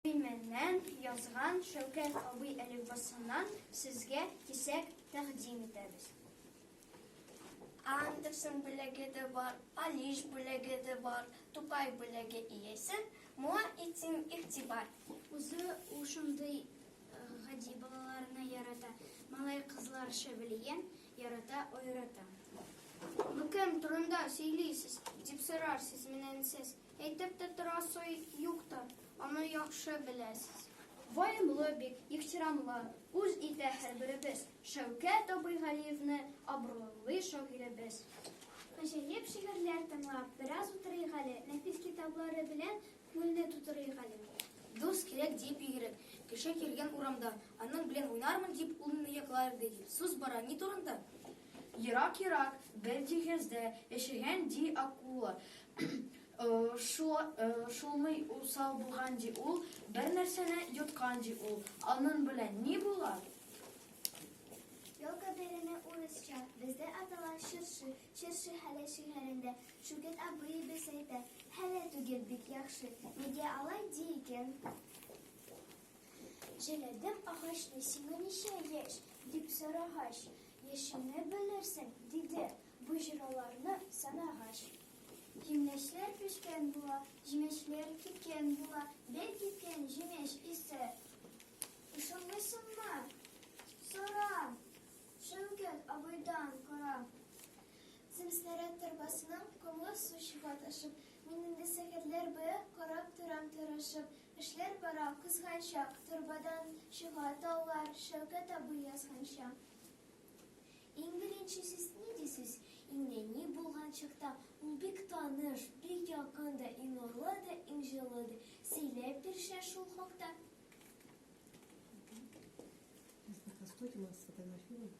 Төймәннән язган Шәүкәт абый әлифбасыннан сезгә кисәк тәкъдим итәбез. Андерсон бүләге дә бар, Алиш бүләге дә бар, Тукай бүләге иясе, моңа итсен игътибар. Үзе ул шундый э, гади балаларны ярата, малай кызлар шәбелиен ярата, аерата. Бу кем турында сөйлисез, дип сорарсыз менән сез. Әйтеп тә торасы юк та, аны яхшы беләсез. Ваемлы бик, ихтирамлы, үз итә һәрберебез, Шәүкәт абый Галиевны абруйлый шагыйребез. Гаҗәеп шигырьләр тыңлап, бераз утырыйк әле, нәфис китаплары белән күңелне тутырыйк әле. Дус кирәк диеп йөгереп, кеше килгән урамда, аның белән уйнармын дип, ул мине яклар иде дип, сүз бара ни турында? Ерак-ерак бер диңгездә яшәгән, ди, акула. Шулмый усал булган ди ул, бер нәрсәне йоткан ди ул. Анын белән ни була? Елка бәйрәме урысча, бездә атала чыршы, чыршы хәле шигырендә. Шүкет абыебез әйтә, хәле түгел бик яхшы, нигә алай ди икән? Җәләдем агачны, сиңа ничә яшь? дип сорагач, Яшеңне белерсең, диде, бу җыраларны санагач. Җимешләр пешкән була, җимешләр кипкән була, бер кипкән җимеш исе. Ышанмыйсыңмы? Сорам! Шәүкәт абыйдан карам. Земснаряд торбасының комлы су чыга ташып, мин инде сәгатьләр буе карап торам тырышып, Эшләр бара, кызганчак, торбадан чыга таулар, Шәүкәт абый язганча. Иң беренче сез ни дисез? Иң нәни булган чакта ул бик таныш, бик якын да, иң нурлы да, иң җылы да. Сөйләп бирче шул хакта. Сейчас пока стойте, у нас фотографируем.